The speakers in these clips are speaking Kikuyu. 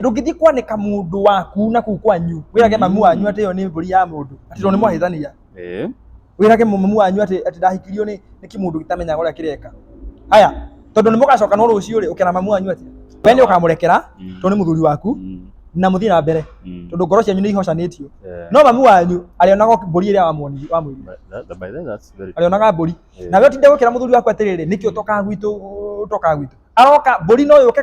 ndũngĩthiĩ kwanĩka mũndũ waku na kuu kwanyu wĩrage Mm. mamu wanyu atĩ ĩyo nĩ mbũri ya mũndũ atĩ tondũ nĩ mwahĩtania Eh. wĩrage mamu wanyu atĩ atĩ ndahikirio nĩ nĩ kĩmũndũ gĩtamenyaga ũrĩa kĩreka haya tondũ nĩ mũgacoka no rũciũ rĩ ũkĩra mamu wanyu atĩ we nĩ ũkamũrekera Mm. tondũ nĩ mũthuri waku Mm. na mũthiĩ na mbere Mm. tondũ ngoro cianyu nĩ ihocanĩtio Eh. no mamu wanyu arĩonaga o mbũri ĩrĩa wamwoni- wamwĩrire But that- that- by then that's very arĩonaga mbũri Eh. nawe ũtinde gũkĩra mũthuri waku atĩrĩrĩ nĩkĩ ũtoka gwitũ ũtoka gwitũ aroka mbũri no yũke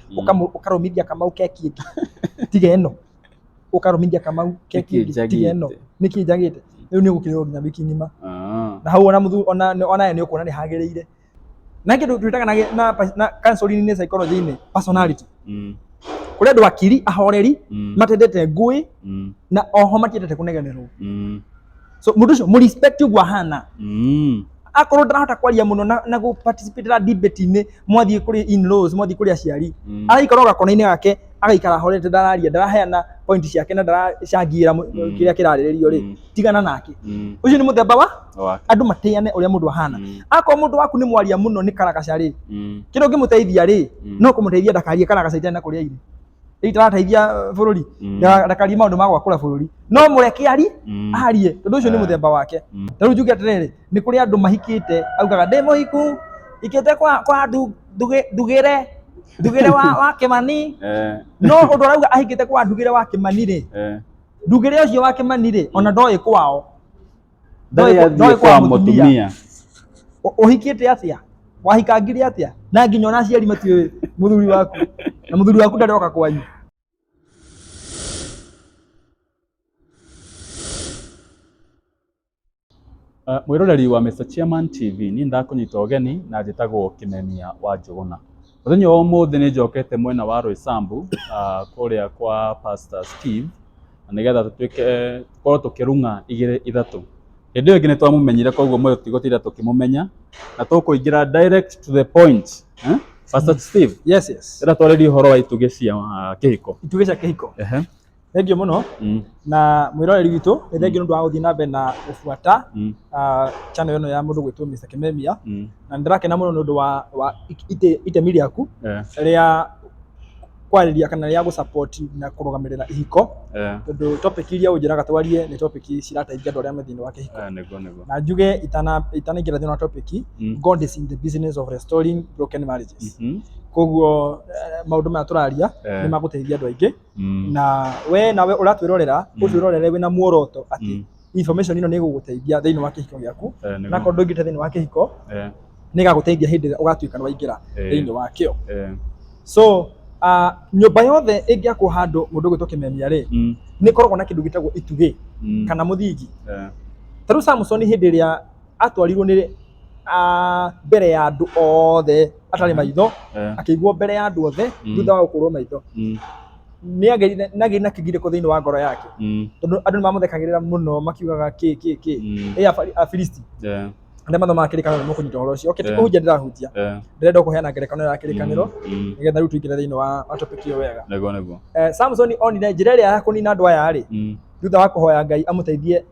Mm. Ũkamu- ũkarũmithia kamau keki ĩngĩ tiga ĩno ũkarũmithia kamau keki Nĩkĩ ĩngĩ tiga ĩno njagĩte? nĩkĩ njagĩte rĩu nĩ ũgũkĩrĩrwo nginya wiki ng'ima Ah. na hau ona muthu ona ona nĩ ũkuona nĩ hagĩrĩire na kĩndũ twĩtaga na gĩ- na pa- na counseling nĩ psychology inĩ personality Mm. kũrĩ andũ akiri ahoreri Mm. matendete ngũĩ Mm. na oho matiendete kũnegenerwo Mm. so mũndũ ũcio mũ respect ũguo ahana Mm. akorwo ndarahota kwaria mũno na, na gũ participate na debate inĩ mwathiĩ kũrĩ in laws mwathiĩ kũrĩ aciari Mm. araikara o gakona-inĩ gake agaikara horete ndararia ndaraheana point ciake na ndaracangĩra Mm. mm. kĩrĩa kĩrarĩrĩrio rĩ Mm. tigana nake Mm. ũcio nĩ mũthemba wa Wa- andũ matĩane ũrĩa mũndũ ahana Mm. akorwo mũndũ waku nĩ mwaria mũno nĩ karagaca rĩ Mm. kĩrĩa ũngĩmũteithia rĩ Mm. no kũmũteithia ndakarie karagaca itena kũrĩa irĩ rä itarateithia bũrũri Mm. ndakarie maũndũ ma gwakũra bũrũri no mũreke ari Mm. arie tondũ ũcio nĩ Ah. mũthemba wake Mm. tarĩu njuge atĩrĩrĩ nĩ kũrĩ andũ mahikĩte augaga ndĩ mũhiku ikĩte kwa kwa ndu- ndugĩ- ndugĩre ndugĩre wa wa kĩmani Eh, no ũndũ arauga ahikĩte kwa ndugĩre wa kĩmani rĩ eh. ndugĩre ũcio wa kĩmani rĩ ona ndoĩ kwao ndarä Ndoĩ- ndoĩ athiä kwa kwa mũtumia. mũtumia Ũ- ũhikĩte atĩa wahikangire atĩa na nginya ona aciari matiũĩ mũthuri waku na mũthuri waku ndarĩ oka kwanyu Uh, mwä roreri wa Mr. Chairman TV nä ndakå nyita å geni na njä tagwo kä menia wa njå gå na Mũthenya wa ũmũthĩ nĩ njokete mwena wa Roysambu ah, kũrĩa kwa Pastor Steve na nĩgetha tũtuĩke tũkorwo tũkĩrung'a igĩrĩ ithatũ. Hĩndĩ ĩyo ĩngĩ nĩ twamũmenyire koguo mũthĩ tũtigũtinda tũkĩmũmenya na tũkũingĩra direct to the point. Eh? Pastor Steve, Yes, yes. ĩra twarĩrie ũhoro wa itugĩ cia ah, kĩhiko. Itugĩ cia kĩhiko. Ehe. Thengiũ mũno Mm. na mwĩroreri witũ nĩ thengiũ nĩ ũndũ wa gũthiĩ na mbere na gũbuata Mm. ah, channel ĩno ya mũndũ gwĩtwo Mr. Kimemia Mm. na nĩ ndĩrakena mũno nĩ ũndũ wa, wa it- ite- itemi rĩaku Eh, rĩa kwarĩria kana rĩa gũsupport na kũrũgamĩrĩra ihiko eh, tondũ topic iria ũnjĩraga twarie nĩ topic cirateithia andũ arĩa me thĩinĩ wa kĩhiko eh, nĩguo nĩguo na njuge itana- itanaingĩra thĩinĩ wa topic Mm. God is in the business of restoring broken marriages Mhm. koguo eh, maũndũ maya tũraria Eh. nĩ magũteithia andũ aingĩ Mm. na we nawe ũratwĩrorera Mm. ũtwĩrorere wĩna muoroto atĩ Mm. information ĩno nĩ ĩgũgũteithia thĩinĩ wa kĩhiko gĩaku Eh, nĩguo. na korwo ndũingĩte thĩinĩ wa kĩhiko Eh, nĩ ĩgagũteithia hĩndĩ ĩrĩa ũgatuĩka nĩ waingĩra eh, thĩinĩ wakĩo eh, so uh, nyũmba yothe ĩngĩakwo handũ mũndũ ũgwĩtwo kĩmemia rĩ mm, nĩ ĩkoragwo na kĩndũ gĩtagwo itugĩ mm, kana mũthingi eh, ta rĩu samson hĩndĩ ĩrĩa atwarirwo nĩ ah, mbere ya andũ othe atarĩ maitho Eh, akĩiguo mbere ya andũ othe Mm. thutha wa gũkũrwo maitho mm, nagĩri na kĩgirĩko thĩinĩ wa ngoro yake mm, tondũ andũ nĩ mamũthekagĩrĩra mũno makiugaga kĩ kĩ kĩ mm, ĩ Afari- afilisti eh, arĩa mathomaga kĩrĩkanĩro nĩ mũkũnyita ũhoro ũcio okĩte Yeah. kũhunjia ndĩrahunjia eh, ndĩrenda kũheana ngerekano ya kĩrĩkanĩro mm, mm. nĩgetha rĩu tũingĩre thĩinĩ wa wa topic ĩyo wega Nĩguo, nĩguo. Eh, samsoni onire njĩra ĩrĩa ya kũnina andũ aya rĩ Mm, thutha wa kũhoya ngai amũteithie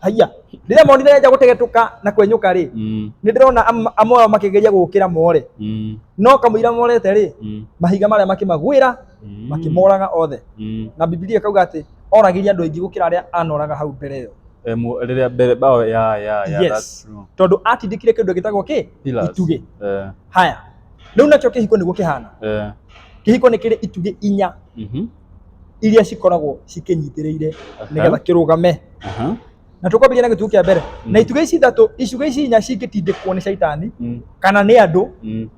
haiya rĩrĩa monire nĩanja gũtegetũka na kwenyũka rĩ Mm. nĩ ndĩrona am- amwe ao makĩgeria gũkĩra more Mm. no kamũira morete rĩ Mm. mahiga marĩa makĩmagwĩra Mm. makĩmoraga othe Mm. na bibilia ĩkauga atĩ oragĩria andũ aingĩ gũkĩra arĩa anoraga hau mbere ĩyo Eh, mu- rĩrĩa mbere bao ya ya ya Yes. that's true. tondũ atindĩkire kĩndũ gĩtagwo kĩ Pillars. itugĩ Eh, haya rĩu nakĩo kĩhiko nĩguo kĩhana eh. kĩhiko nĩ kĩrĩ itugĩ inya Mhm. iria cikoragwo cikĩnyitĩrĩire nĩgetha kĩrũgame Aha. na tũkwambĩrĩria na gĩtugĩ kĩa mbere na itugĩ ici ithatũ icugĩ ici inya cingĩtindĩkwo nĩ caitani Mm. kana nĩ andũ Mm.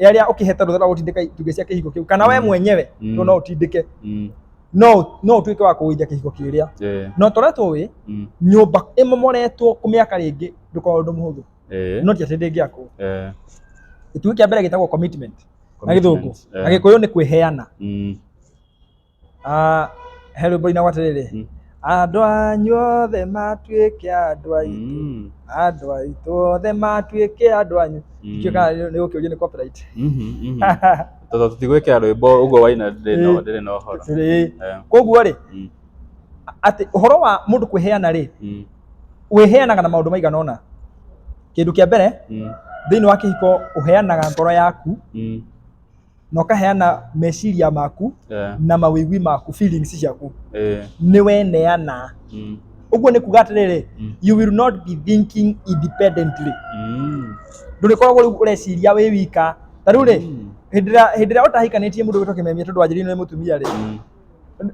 arĩa ũkĩhete rũtha rwa gũtindĩka itugĩ cia kĩhiko kĩu kana we mwenyewe Mm. tondũ no ũtindĩke Mm. no no ũtuĩke wa kũgũithia kĩhiko kĩrĩa Eh. no tũrĩa tũĩ Mm. nyũmba ĩmomoretwo kũmĩaka rĩngĩ ndũkorwo ũndũ mũhũthũ Eh. no ti atĩ ndĩngĩakwo Eh. gĩtugĩ kĩa mbere gĩtagwo commitment na githungu Commitment, eh. na gikuyu ni kwiheana Mm. Ah, he rwimbo inagwa atiriri Mm. andå anyu othe matuä ke andå aitå Mm. andå aitå othe matuä ke andå anyu Mm. ikä kana nä gå kä å ria nä copyright. Mhm, mhm. Tondũ tũtigwĩkĩra rwĩmbo ũguo waina ndĩrĩ na- Ĩĩ. ndĩrĩ na ũhoro Atĩrĩ, Eh, koguo rä mm, atä å horo wa må ndå kwä heana rä mm. wĩheanaga na maũndũ maigana ũna kĩndũ kĩa mbere Mm. thĩinĩ wa kĩhiko ũheanaga ngoro yaku Mm. na ũkaheana meciria maku Eh. na mawĩgwi maku feelings ciaku Eh. nĩ weneana Mm. ũguo nĩ kuga atĩrĩrĩ Mm. you will not be thinking independently Mm. ndũrĩkoragwo rĩu ũreciria wĩ wika ta rĩu rĩ Mm. hĩndĩ ĩrĩa- hĩndĩ ĩrĩa ũtahikanĩtie mũndũ wĩtwo kĩmemia tondũ wanjĩrĩirwo nĩ mũtumia rĩ Mm.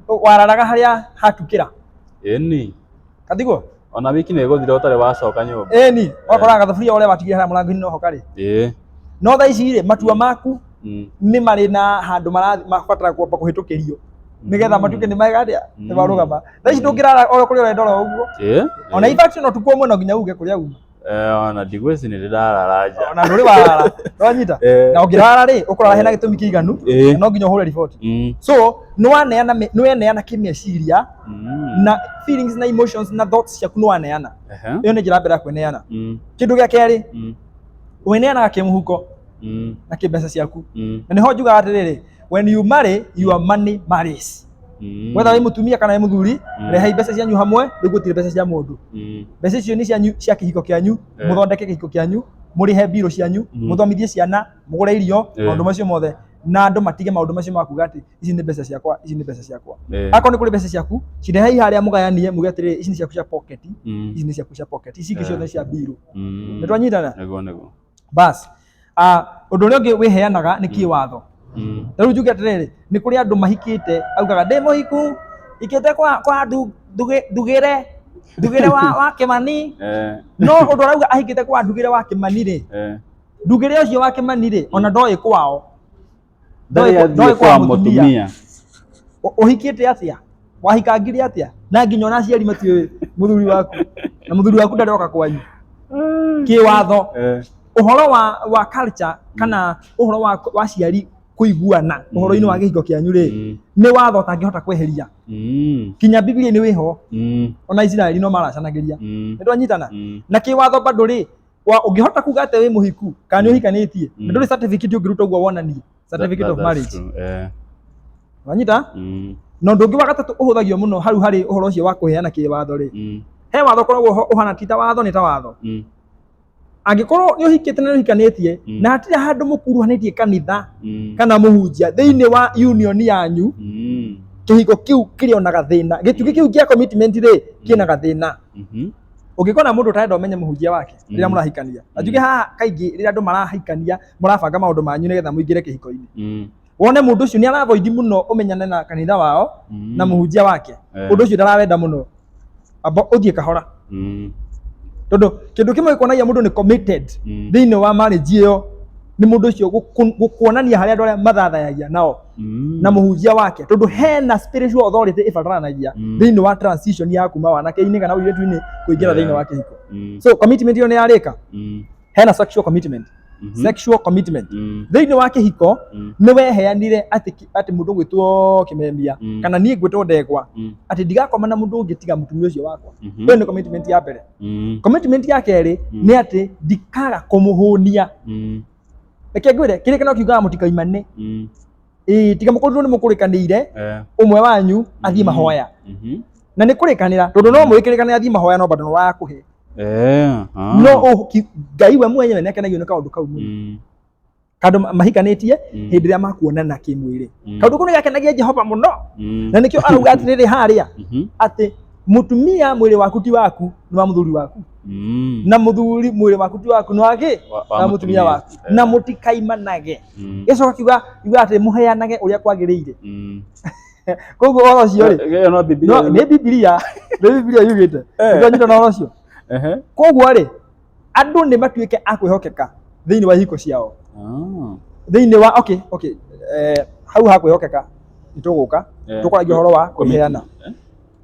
wararaga harĩa hatukĩra ĩni katiguo ona wiki nä gå thira å tarä wacoka nyå mba ĩni wakoraga gathaburia ũrĩa watigire harĩa mũrango-inĩ noho karĩ ä no thaa ici rĩ matua maku nĩ marĩ na handũ mara- mabatara kwamba kũhĩtũkĩrio nĩgetha matuĩke nĩ mega atĩa nĩ marũgama thaa ici ndũngĩrara o kũrĩa ũrenda oro ũguo ä ona ibaci no tukwo mũno nginya uge kũrĩa uma Eh, ona ndigwĩci nĩ ndĩrarara nja ona ndũrĩ warara nĩwanyita Eh, na ũngĩrara rĩ ũkũrara hena gĩtũmi kĩiganu eh, na no nginya ũhũre riboti mm, so nĩwaneana me- nĩweneana kĩmeciria mm, na feelings na emotions na thoughts ciaku nĩwaneana ehe, ĩyo nĩ njĩra mbere ya kweneana mm, kĩndũ gĩa kerĩ mm, weneanaga kĩmũhuko mm, na kĩmbeca ciaku mm. na nĩho njugaga atĩrĩrĩ when you marry your money marries Mm. mwetha wĩ mũtumia kana wĩ mũthuri Mm. rehai mbeca cianyu hamwe nĩguo tire mbeca cia mũndũ Mm. mbeca icio nĩ cianyu cia kĩhiko kĩanyu Eh. mũthondeke kĩhiko kĩanyu mũrĩhe mbirũ cianyu Mm. mũthomithie ciana mũgũre irio Eh. maũndũ macio mothe na andũ matige maũndũ macio ma kuga atĩ ici nĩ mbeca ciakwa ici nĩ mbeca ciakwa Eh. akorwo nĩ kũrĩ mbeca ciaku cirehei harĩa mũgayanie muge atĩrĩrĩ ici nĩ ciaku cia pocket Mm. ici nĩ ciaku cia pocket ici ingĩ Eh. ciothe nĩ cia mbirũ Mm. nĩ twanyitana Nĩguo, nĩguo. bas Ah, ũndũ ũrĩa ũngĩ wĩheanaga nĩ kĩwatho Mm. ta rĩu njuge atĩrĩrĩ nĩ kũrĩ andũ mahikĩte augaga ndĩ mũhiku ikĩte kwa kwa ndu- ndugĩ- ndugĩre ndugĩre wa wa kĩmani Eh, no ũndũ arauga ahikĩte kwa ndugĩre wa kĩmani rĩ eh. ndugĩre ũcio wa kĩmani rĩ ona ndoĩ kwao ndarä athiä ndoĩ kwa kwa mũtumia. måtumia Ũ- ũhikĩte atĩa wahikangire atĩa na nginya ona aciari matiũĩ mũthuri waku na mũthuri waku ndarĩ oka kwanyu kĩwatho Eh, ũhoro wa wa culture kana ũhoro wa wa ciari kũiguana ũhoro-inĩ wa gĩhingo kĩanyu rĩ Mm. nĩ watho ũtangĩhota kweheria mm, kinya bibilia nĩ wĩho mm, ona isiraeli no maracanagĩria mm, nĩ twanyitana mm. na kĩwatho bado rĩ wa ũngĩhota kuga atĩ wĩ mũhiku kana nĩ ũhikanĩtie Mm. na ndũrĩ certificate ũngĩruta ũguo wonanie certificate of marriage Eh, wanyita mm, na ũndũ ũngĩ wa gatatũ ũhũthagio mũno hau harĩ ũhoro ũcio wa kũheana kĩwatho rĩ mm, he watho ũkoragwo ho- ũhana ti ta watho nĩ ta watho mm, angĩkorwo nĩ ũhikĩte na nĩ ũhikanĩtie Mm. na hatirĩ handũ mũkuruhanĩtie kanitha mm, kana mũhunjia thĩinĩ wa union yanyu mm, kĩhiko kĩu kĩrĩ ona gathĩna gĩtugĩ kĩu kĩa commitment rĩ kĩna gathĩna Mhm. ũngĩkona mũndũ ũtarenda ũmenye mũhunjia wake rĩrĩa Mm. mũrahikania na njuge haha kaingĩ rĩrĩa andũ marahikania mũrabanga maũndũ manyu nĩgetha mũingĩre kĩhiko-inĩ Mm. wone mũndũ ũcio nĩ aravoidi mũno ũmenyane na kanitha wao Mm. na mũhunjia wake Eh. ũndũ ũcio ndarawenda mũno amba ũthiĩ kahora Mm. tondũ kĩndũ kĩmwe gĩkuonagia mũndũ nĩ committed Mm. thĩinĩ wa marriage ĩyo nĩ mũndũ ũcio gũku- gũkuonania harĩa andũ arĩa mathathayagia nao Mm. na mũhunjia wake tondũ hena spiritual authority ĩbataranagia Mm. thĩinĩ wa transition ya kuma wanake-inĩ kana ũirĩtu-inĩ kũingĩra Yeah. thĩinĩ wa kĩhiko Mm. so commitment ĩyo nĩ yarĩka Mm. hena sexual commitment Mhm. sexual commitment Mm. thĩinĩ wa kĩhiko Mm. nĩ weheanire atĩ ki- atĩ mũndũ gwĩtwo kĩmemia Mm. kana niĩ ngwĩtwo ndegwa Mm. atĩ ndigakoma na mũndũ ũngĩ tiga mũtumia ũcio wakwa Mhm. ĩyo nĩ commitment ya mbere Mm. commitment ya kerĩ Mm. nĩ atĩ ndikaga kũmũhũnia Mm. reke ngwire kiri kana kiugaga mutikaimane Mm. ii tiga mukorirwo ni mukurikanire Eh. umwe wanyu athii Mhm. mahoya Mhm. na ni kurikanira tondu no mwikirikanira athii mahoya no bado no wakuhe Eh. ah. no u- ki- ngai we mwenyewe ni akenagio ni kaundu kau muno Mm. kandu ma- mahikanitie Mm. hindi ria makuonana kimwiri Mm. kaundu kau ni gakenagia jehova muno Mm. na nikio arauga atiriri haria Mhm. ati mutumia mwiri waku ti waku ni wa muthuri waku Mm. na muthuri mwiri waku ti waku ni waki Wa- wa na mutumia waku Eh. na mutikaimanage Mm. gicoka kiuga kiuga ati muheanage uria kwagirire Mm. koguo oro ucio ri Ĩyo no Biblia no yugĩte. ni bibilia ni bibilia yugite Eh. ndonyita na oro ucio Ehe. koguo ri andu ni matuike a kwihokeka thiini wa ihiko ciao Ah. thiini wa okay okay eh, hau ha kwihokeka nituguka Yeah. tukoragia horo wa Commitment. kuheana Eh?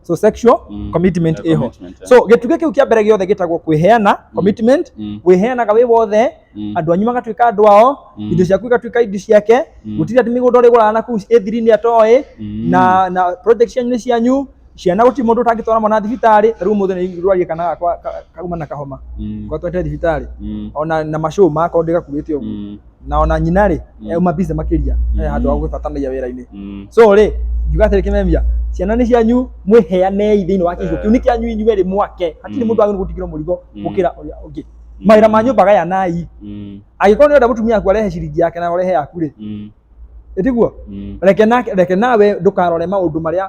so sexual Mm. commitment Yeah, ĩho commitment, yeah. so gĩtugĩ kĩu kĩa mbere gĩothe gĩtagwo kwĩheana commitment Mm. wĩheanaga wĩ wothe Mm. andũ anyu magatuĩka andũ ao Mm. indo ciaku igatuĩka indo ciake Mm. gũtirĩ atĩ mĩgũnda ũrĩgũraga na kuu ĩthiri-inĩ atoĩ Mm. na na project cianyu nĩ cianyu ciana gũtirĩ mũndũ ũtangĩtwara mwana thibitarĩ ta rĩu mũthĩ nĩ rwarie kana gakwa ka- kauma na kahoma Mm. kwa twete thibitarĩ Mm. ona na macũma akorwo ndĩgakuĩte ũguo Mm. na ona nyina rĩ Mm. euma busy makĩria Mm. eh, handũ wa gũgĩbatanagia wĩra-inĩ Mm. so rĩ ngiuga atĩrĩ kĩmemia ciana nĩ cianyu mwĩheanei thĩinĩ wa kĩhigo Eh. kĩu nĩ kĩanyu inyuĩ rĩ mwake hatirĩ Mm. mũndũ agĩrĩirwo gũtigĩrwo mũrigo Mm. gũkĩra ũrĩa ũngĩ Mm. mawĩra ma nyũmba gayanai Mm. angĩkorwo nĩ ũrenda mũtumia waku arehe ciringi yake na ũrehe yaku rĩ Mm. ĩtiguo Mm. reke nake- reke nawe ndũkarore maũndũ marĩa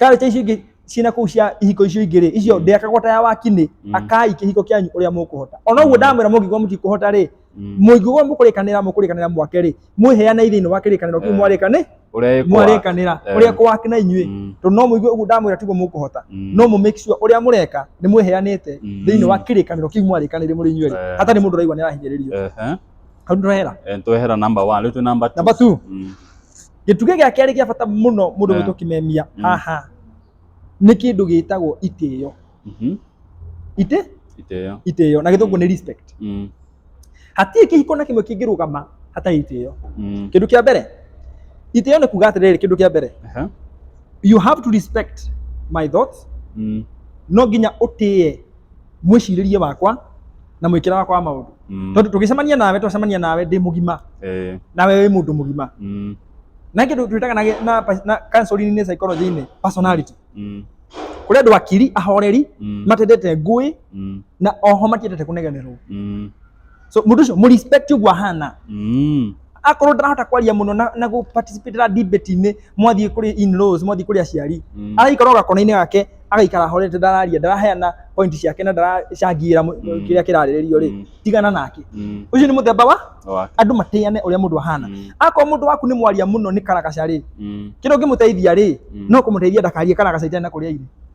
Karĩte icio ingĩ ciĩna kũu cia ihiko icio ingĩ rĩ icio ndĩakagwo ta ya wakinĩ Mm. akai kĩhiko kĩanyu ũrĩa mũkũhota ona ũguo ndamwĩra mũngĩkorwo mũtikũhota rĩ Mm. mũngĩkorwo mũkũrĩkanĩra mũkũrĩkanĩra mwake rĩ mwĩheanei thĩinĩ wa kĩrĩkanĩro kĩu Eh. mwarĩkanĩ Ũrĩa ĩkwa. mwarĩkanĩra Eh. ũrĩa kwakina inyuĩ Mm. tondũ no mũigue ũguo ndamwĩra tiguo mũkũhota Mm. no mũ make sure ũrĩa mũreka nĩ mwĩheanĩte Mm. thĩinĩ wa kĩrĩkanĩro kĩu mwarĩkanĩire mũrĩ inyuĩ rĩ Eh. hatarĩ mũndũ ũraigua nĩ arahinyĩrĩrio Ehe. hau nĩ twehera Eh, twehera number one rĩu twĩ number two. number two Mm. gĩtugĩ gĩa kerĩ gĩa bata mũno mũndũ Yeah. witũ kĩmemia Mm. haha nĩ kĩndũ gĩtagwo itĩyo Mhm. itä Itĩyo. itĩyo na gĩthũngũ nĩ respect Mm. hatirĩ kĩhiko na kĩmwe kĩngĩrũgama hatarĩ itĩyo Mm. kĩndũ kĩa mbere itĩyo nĩ kuga atĩrĩrĩ kĩndũ kĩa mbere Aha. you have to respect my thoughts Mm. no nginya ũtĩye mwĩcirĩrie wakwa na mwĩkĩra wakwa wa maũndũ Mm. tondũ tũgĩcemania nawe twacemania nawe ndĩ mũgima Eh. nawe wĩ mũndũ mũgima Mm. na kĩndũ twĩtaga na, gĩ- na, na counseling-inĩ psychology-inĩ personality Mm. kũrĩ andũ akiri ahoreri Mm. matendete ngũĩ Mm. na oho matiendete kũnegenerwo Mm. so mũndũ ũcio mũrespect ũguo ahana Mm. akorwo ndarahota kwaria mũno na, na gũparticipatera debate-inĩ mwathiĩ kũrĩ in-laws mwathiĩ kũrĩ aciari Mm. araikara o gakona-inĩ gake agaikara horete ndararia ndaraheana point ciake na ndaracangĩra mũ- Mm. kĩrĩa kĩrarĩrĩrio rĩ Mm. tigana nake Mm. ũcio nĩ mũthemba wa Wa- andũ matĩane ũrĩa mũndũ ahana Mm. akorwo mũndũ waku nĩ mwaria mũno nĩ karagaca rĩ Mm. kĩrĩa ũngĩmũteithia rĩ Mm. no kũmũteithia ndakarie karagaca itena kũrĩa irĩ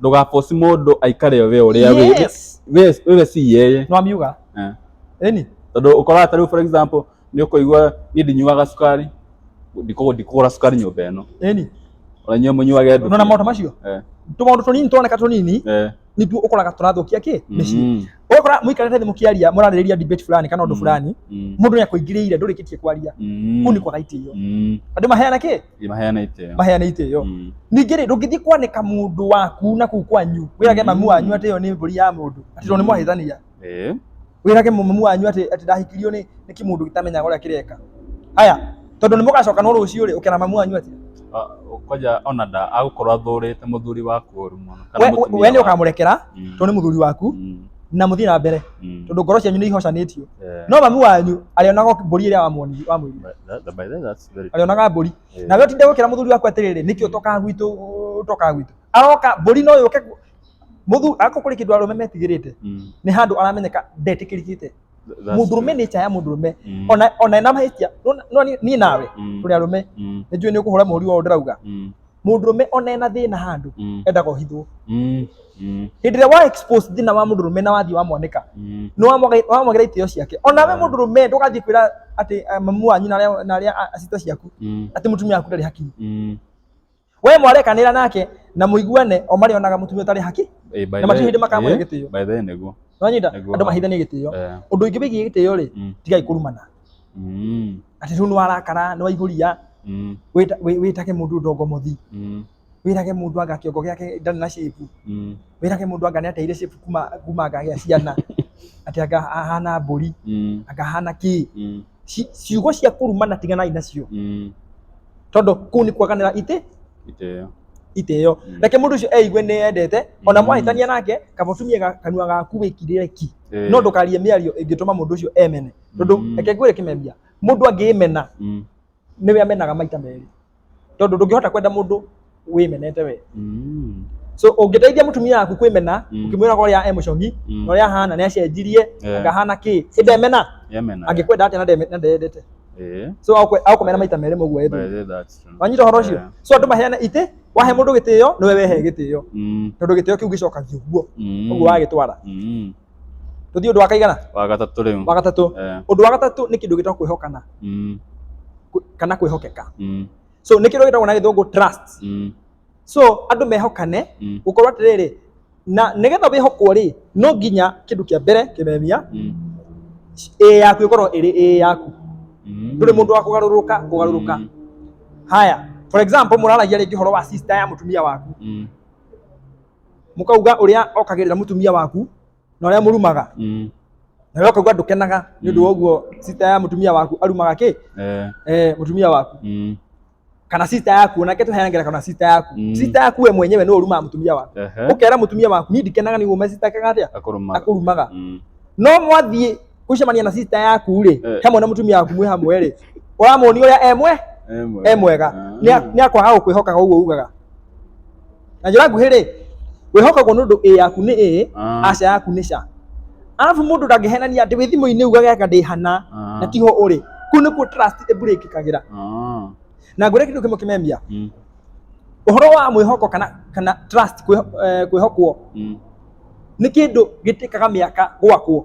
ndũgaposti mũndũ aikare we ũrĩa wĩ Yes. we wewe si yeye nĩwamiuga Eh. ĩni tondå å koraga tarä u for example nä å kå igua niä ndinyuaga cukari ndikå gå ra cukari nyå mba ä no ĩni ona inyuä må nyuage ndå nona maũndũ macio Eh, tũmaũndũ tũnini tũroneka tũnini eh, nĩtuo ũkoraga tũrathũkia kĩ mĩciĩ mm, ũgakora mũikarĩte thĩ mũkĩaria mũrarĩrĩria debate fulani kana ũndũ Mm. fulani mm, mũndũ nĩ akũingĩrĩire ndũrĩkĩtie kwaria mm, kũu nĩ kwaga itĩo mm. andũ maheana kĩ maheane itĩo maheane itĩo Mm. ningĩ rĩ ndũngĩthiĩ kwanĩka mũndũ waku na kuu kwanyu wĩrage mamu wanyu atĩ ĩyo nĩ mbũri ya mũndũ atĩ tondũ nĩ mwahĩtania Eh. wĩrage mamu wanyu atĩ atĩ ndahikirio nĩ nĩ kĩmũndũ gĩtamenyaga ũrĩa kĩreka haya tondũ nĩ mũgacoka no rũciũ rĩ ũkera mamu wanyu atĩ Ah, kwaja ona nda agũkorwo athũrĩte mũthuri waku ũru mũno kana we we- mũtumia we nĩ waku. ũkamũrekera Mm. tondũ nĩ mũthuri waku Mm. na mũthiĩ na mbere Mm. tondũ ngoro cianyu nĩ ihocanĩtio Eh. no mamu wanyu arĩonaga mbũri ĩrĩa wamwoni- wamwĩrire But that- but by the way, that's Very true. arĩonaga mbũri Eh. nawe ũtinde gũkĩra mũthuri waku atĩrĩrĩ nĩkĩ ũtokaga gwitũ ũtokaga gwitũ aroka mbũri no yũke gu- mũthuri ako kũrĩ kĩndũ arũme metigĩrĩte Mm. nĩ handũ aramenyeka ndetĩkĩrĩkĩte That's mũndũrũme true. nĩ ya mũndũrũme Mm. ona ona ena mahĩtia no- no niĩ- niĩ nawe Mm. tũrĩ arũme Mm. nĩ njũĩ nĩ ũkũhũra mũhũri wa ũndĩrauga Mm. mũndũrũme ona ena thĩna handũ Mm. endaga ũhithwo Mm. Mm. hĩndĩ ĩrĩa wa expose thĩna wa mũndũrũme na wathiĩ wamwanĩka Mm. nĩ wamwaga- wamwagĩra itĩo ciake ona we mũndũrũme ndũgathiĩ kwĩra atĩ eh, mamu wanyu na arĩa- na arĩa a- a- sister ciaku Mm. atĩ mũtumia waku ndarĩ hakinyi Mm. we mwarekanĩra nake na mũiguane o marĩonaga mũtumia ũtarĩ haki Eh, by Na the- matirĩ hĩndĩ makamũhe eh, gĩtĩo. by the way nĩguo. nonyita Nĩguo. andũ mahithanie gĩtĩo Eh. ũndũ ingĩ wĩgiĩ gĩtĩo rĩ Mm. tigai kũrumana Mm. atĩ rĩu nĩ warakara nĩ waihũria Mm, wĩta- wĩ- wĩtage mũndũ ndongo mũthi mm, wĩrage mũndũ anga kĩongo gĩake ndarĩ na shape mm, wĩrage mũndũ anga nĩateire shape kuma kuma anga gĩa ciana atĩ anga ahana mbũri mm, anga ahana kĩ mm, Ci- ciugo cia kũrumana tiganai nacio mm. tondũ kũu nĩ kwaganĩra itĩ Itĩo. itĩo Mm. reke mũndũ ũcio eigue nĩ endete ona Mm. mwahĩtania nake kaba ũtumie ga- kanua gaku wĩkirĩre ki Ĩĩ. no ndũkarie mĩario ĩngĩtũma mũndũ ũcio emene tondu Mm. reke ngwire kimemia mundu angimena Mm. niwe amenaga maita meri tondu ndungihota kwenda mundu wimenete we Mm. so ũngĩteithia mũtumia waku kwĩmena Mm. ũkĩmwĩra ũrĩa e mũcong'i Mm. na ũrĩa ahana nĩ acenjirie Yeah. akahana kĩ ĩ ndemena Yemena. angĩkwenda atĩa na ndeme- na ndendete Eh. so agũkwe- agũkũmena maita merĩ mũguo By ethĩ the- that's true. wanyita ũhoro ũcio Yeah. so andũ maheana itĩ wahe mũndũ gĩtĩo nĩwe wehe gĩtĩo Mm. tondũ gĩtĩo kĩu gĩcokagia ũguo Mm. ũguo wagĩtwara Mm. tũthiĩ ũndũ wa kaigana wa gatatũ rĩu wa gatatũ Eh, ũndũ wa gatatũ nĩ kĩndũ gĩtagwo kwĩhokana mm, kwĩ- kana kwĩhokeka mm, so nĩ kĩndũ gĩtagwo na gĩthũngũ trust mm, so andũ mehokane mm, gũkorwo atĩrĩrĩ na nĩgetha wĩhokwo rĩ no nginya kĩndũ kĩa mbere kĩmemia mm, ĩĩ yaku ĩkorwo ĩrĩ ĩĩ yaku mm. ndũrĩ mũndũ wa kũgarũrũka kũgarũrũka Mm, haya for example mũraragia rĩngĩ ũhoro wa sister ya mũtumia waku mm, mukauga uria okagirira mutumia waku na uria murumaga Mm. na we ukauga ndukenaga ni undu Mm. wa uguo sita ya mutumia waku arumaga ki Eh. eh, mutumia waku Mm. kana sita yaku onake tuheanagĩra kana sita yaku Mm. sita yaku we mwenyewe no urumaga mutumia waku Ehe. ukera mutumia waku ni ndikenaga ni gume sita kaga atia Akũrũmaga. akũrumaga Mm. no mwathiĩ ucemania na sister yaku ri Eh. hamwe na mutumia waku mwe hamwe ri uramuonia uria emwe Emwe. e mwega Ah. Nĩa- nĩakwaga gũkwĩhokaga ũguo ugaga na njĩra nguhĩ rĩ wĩhokagwo nĩ ũndũ ĩ yaku nĩ ĩ Ah. aca yaku nĩ ca arabu mũndũ ndangĩhenania atĩ wĩ thimũ-inĩ ugaga aka ndĩhana Ah. na tiho ũrĩ kũu nĩkuo trust ĩbũrĩkĩkagĩra Ah. na ngwĩre kĩndũ kĩmwe kĩmemia Mm. ũhoro wa mwĩhoko kana kana trust kwĩho- eh, kwĩhokwo Mm. nĩ kĩndũ gĩtĩkaga mĩaka gwakwo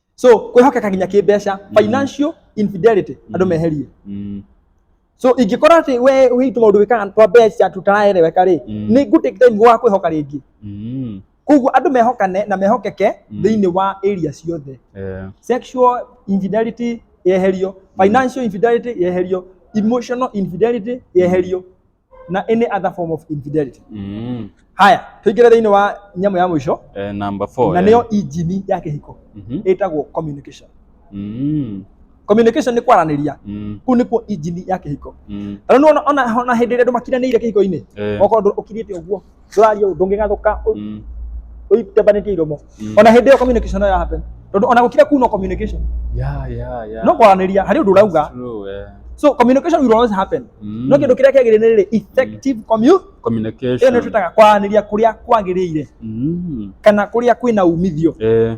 so kwĩhokeka nginya kĩmbeca Mm. financial infidelity andũ Mm. meherie Mm. so ingĩkora atĩ we witũ maũndũ wĩkaga twa mbeca tutaraereweka rĩ Mm. nĩ ngũtake time wa kwĩhoka rĩngĩ Mm. koguo andũ mehokane na mehokeke Mm. thĩinĩ wa area ciothe Eh. sexual infidelity yeherio financial infidelity yeherio emotional infidelity yeherio na any other form of infidelity Mm. haya tuingire thĩinĩ wa nyamũ ya mũico Eh, number four. na eh. nĩyo injini ya kĩhiko Mhm. ĩtagwo communication Mm. communication nĩ kwaranĩria Mm. kũu nĩkuo injini ya kĩhiko Mm. tondũ nĩwona ona ona hĩndĩ ĩrĩa andũ makiranĩire kĩhiko-inĩ Eh. okorwo ndũ- ũkirĩte ũguo tũraria ũndũ ũngĩgathũka ũitebanĩtie iromo mm. ona hĩndĩ ĩyo communication no yahappen tondũ ona gũkira kuu no communication yeah, yeah, yeah. no kwaranĩria harĩ ũndũ ũrauga eh. so communication will always happen mm. no kĩndũ kĩrĩa kĩagĩrĩire nĩ rĩrĩ effective mm. communication ĩyo nĩ twĩtaga kwaranĩria kũrĩa kwagĩrĩire mm. kana kũrĩa kwĩna umithio eh.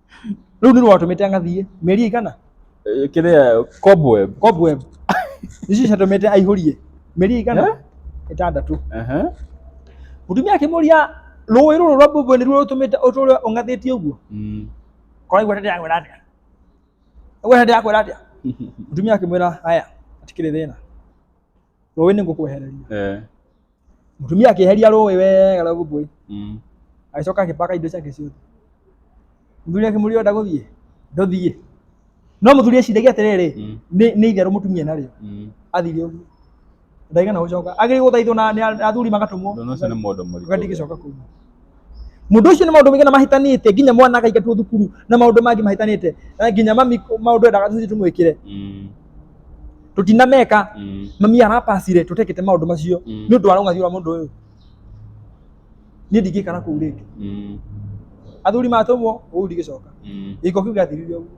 Rĩu nĩ watũmĩte angathiĩ mĩeri igana Eh, kĩrĩa cobweb cobweb ici ciatũmĩte aihũrie mĩeri igana Eh? ĩtandatũ Aha. mũtumia akĩmũria rũĩ rũrũ rwa mbũmbũĩ nĩruo rũtũmĩte ũtũre ũng'athĩtie ũguo Mm. korwo igweta ndĩrakwĩra atĩa igweta ndĩrakwĩra atĩa mũtumia akĩmwĩra haya atikĩrĩ thĩna rũĩ nĩ ngũkwehereria eh mũtumia akĩeheria rũĩ wega rwa gũkũĩ mm agĩcoka agĩpaka indo ciake ciothe mũthuri akĩmũria ũrenda gũthiĩ ndũthiĩ no mũthuri eciragia atĩrĩrĩ Mm. nĩ nĩ itherũ mũtumia narĩo mm athire ũguo ndaigana gũcoka agĩrĩ gũthaithwo na na athuri magatũmwo ndona ũcio nĩ mũndũ mũritũ ũgathiĩ gĩcoka kũu mundu ucio ni maundu maingĩ na mahitanite nginya mwana akaingatwo thukuru na maundu mangi mahitanite na nginya mami maundu endaga tuthi tumwikire Mm. tutinameka Mm. mami arapacire tutekete maundu macio Mm. ni undu wa rungathi rwa mundu uyu ni ndingikara kuu ringi Mm. athuri matumwo uu ndigicoka Mm. giko kiu giathirire uguo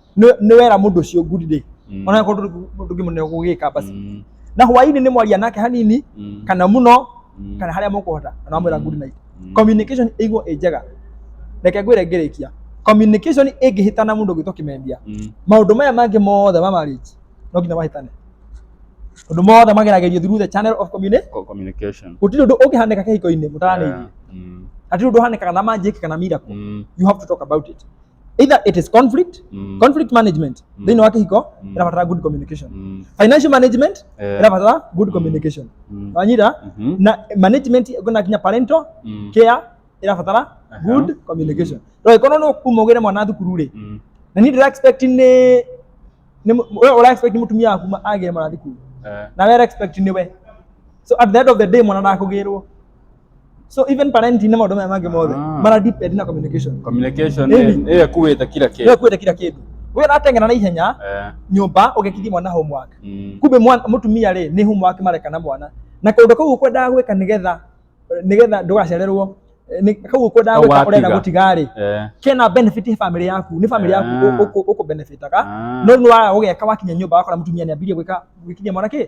nĩ- nĩ wera mũndũ ũcio good day Mm. ona korwo ndũngĩmũneo gũgĩka basi Mm. na hwainĩ nĩ mwaria nake hanini Mm. kana mũno Mm. kana harĩa mũkũhota na wamwĩra good night Mm. communication ĩiguo ĩ njega reke ngwĩre ngĩrĩkia communication ĩngĩhĩtana mũndũ ũgĩtwo kĩmembia Mm. maũndũ maya mangĩ mothe ma marriage no nginya mahĩtane ũndũ mothe mageragĩrio through the channel of communication Co- communication gũtirĩ ũndũ ũngĩhanĩka kĩhiko-inĩ mũtaranĩirie Yeah. Mm. hatirĩ ũndũ ũhanĩkaga na manjĩki kana miracle Mm. you have to talk about it either it is conflict Mm. conflict management Mm. thĩinĩ wa kĩhiko Mm. ĩrabatara good communication Mm. financial management Eh. ĩrabatara good Mm. communication Mm. wanyita Mhm. na management kuna kinya parental Mm. care ĩrabatara Aha. good communication roi kono no kumugire mwana thukuru ri Mm. na ni ndira expect ni ni mu- we ura expect ni mutumia waku ma- agire mwana thukuru Eh. na we expect ni we so at the end of the day mwana ndakugirwo so even pana nti na madomo yamage mothe Ah. mara deep ed na communication communication Maybe. eh eh kuweta kila kitu wewe kwenda kila kitu wewe natengana na ihenya eh nyumba ugekithia mwana homework mm. kumbe mwana mutumia rĩ nĩ homework mareka na mwana na kaũndũ kau ũkwendaga gwĩka nĩgetha nĩgetha ndũgacererwo eh, nĩ- kau ũkwendaga Kau gwĩka watiga. ũrenda gũtiga rĩ eh kena benefit he family yaku nĩ family yaku Ah. ũkũ benefitaga Ah. no nĩ waga gũgeka wakinya nyũmba wakora mũtumia nĩ ambirie gwĩka gwĩkinyia mwana kĩ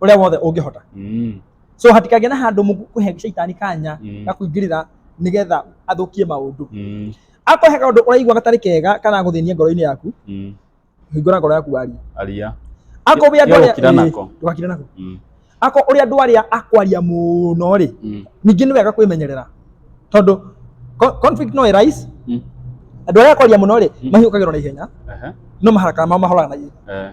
uria wothe ungihota mm. so hatikagĩa na handũ mũkũhe shaitani kanya mm. ga kũingĩrĩra nigetha athukie maundu mm. akohe kaundu ũraigua gatari kega kana gũthĩnia ngoro-inĩ yaku mm. hingũra ngoro yaku waria aria ako ũrĩa andũ arĩa nako ndũgakire nako mm. ako ũrĩa andũ arĩa akwaria mũno rĩ mm. ningĩ nĩ wega kwĩmenyerera tondũ conflict no arise mm. andũ arĩa akwaria mũno rĩ mm. mahiũkagĩrwo na ihenya no maharaka mao mahoraga na ihenya eh.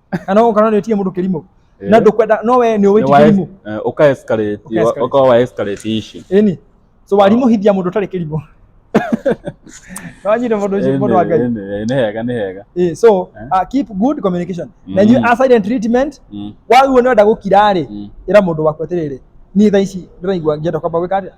na no ũkona nĩ ũtie mũndũ kĩrimũ na ndũkwenda no we nĩ ũwĩti kĩrimũ eh, ũka escalate ũka wa escalate ici ĩni so warimũ hithia mũndũ ũtarĩ kĩrimũ Wanyire mundu ucio mundu wa Ngai. Ni hega ni hega. Eh so eh? uh, keep good communication. Mm. Na you are silent treatment. Mm. Wagwo ni wenda gukira ri mm. ira mundu waku atiriri. Ni tha ici ndiraigua ngienda kwamba gwika atia.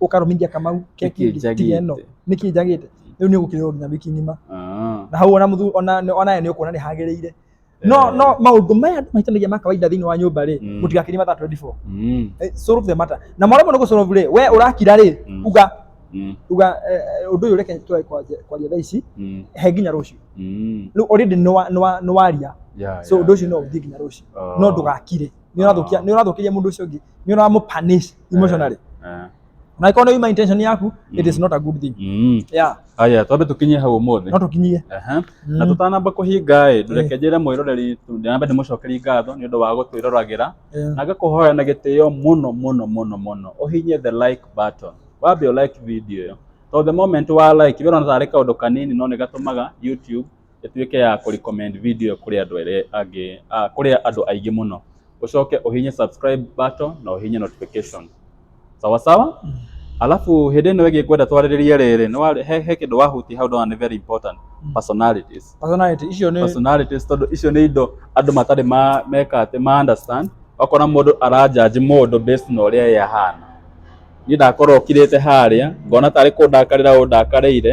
ukarumingia kamau keki Nĩkĩ njagĩte? tiga ĩno nĩkĩ njagĩte rĩu nĩ ũgũkĩrĩrwo nginya wiki ng'ima Ah. na hau ona mũthu ona ona nĩ ũkuona nĩ hagĩrĩire no Eh. no maũndũ maya andũ mahĩtanagia ma kawaida thĩinĩ wa nyũmba rĩ Mm. mũtigakirie mathaa 24 Mm. Eh, solve the matter na mwaremwo nĩ gũsolve rĩ we ũrakira rĩ Mm. uga Mm. uga eh, eh, ũndũ ũyũ reke twae kwaria kwaria thaa ici Mm. he nginya rũciũ Mm. rĩu already nĩ wa- nĩ wa- nĩ waria Yeah, so yeah, ũndũ ũcio no yeah. ũthiĩ nginya rũciũ Ah. no ndũgakire nĩ ũrathũkia Ah. nĩ ũrathũkĩria mũndũ ũcio ũngĩ nĩ ũramũpanish emotionally Eh. na ĩkorwo nĩ uma intention yaku it is not a good thing Mm. yeah Aya, twambe tũkinyie hau ũmũthĩ. no tũkinyie Aha. na tũtanamba kũhinga ĩ ndũreke njĩre mwĩroreri ndĩnambe ndĩmũcokerie ngatho nĩ ũndũ wa gũtwĩroragĩra Eh. na ngakũhoya na gĩtĩo mũno mũno mũno mũno ũhinyie the like button wambe ũ like video ĩyo to the moment wa like wĩrona tarĩ kaũndũ kanini no nĩ gatũmaga youtube ĩtuĩke ya kũ recommend video kũrĩ andũ arĩa angĩ, kũrĩ andũ aingĩ mũno. Ũcoke ũhihinye subscribe button na ũhihinye notification. Sawa sawa? Alafu hĩndĩ ĩno ĩngĩ ngwenda twarĩrĩrie rĩrĩ, nĩ wa, he, he kĩndũ wahutia hau ndona nĩ very important, personalities. Personality icio nĩ Personalities tondũ icio nĩ indo andũ matarĩ ma, meka atĩ, ma understand. Ũkona mũndũ ara judge mũndũ based na ũrĩa ye ahana. Niĩ ndakorwo kirĩte harĩa, ngona tarĩ kũndakarĩra ũndakarĩire,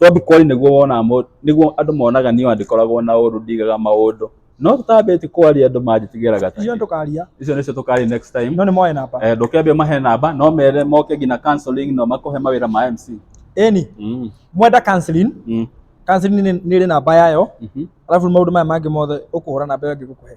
Tondũ Kori nĩguo wonaga mũndũ, nĩguo andũ monaga niĩ ndĩkoragwo na ũndũ ndigaga maũndũ. No tũtambĩti Kori andũ manjĩtigĩra gata. Icio tũkaria. Icio nĩcio tũkaria next time. No nĩ moe namba. Eh, ndũkĩambia mahe namba, no mere moke nginya counseling no makũhe mawĩra ma MC. Ĩni. Mm. Mwenda counseling. Mm. Counseling nĩ ĩrĩ namba yayo. Mm -hmm. Alafu maũndũ maya mangĩ mothe ũkũhũra namba ĩyo ĩngĩgũkũhe.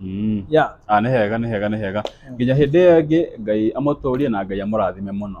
Mm. ya Ah, nĩ hega nĩ hega nĩ hega nginya hĩndĩ ĩyo ĩngĩ ngai amũtũrie na ngai amũrathime mũno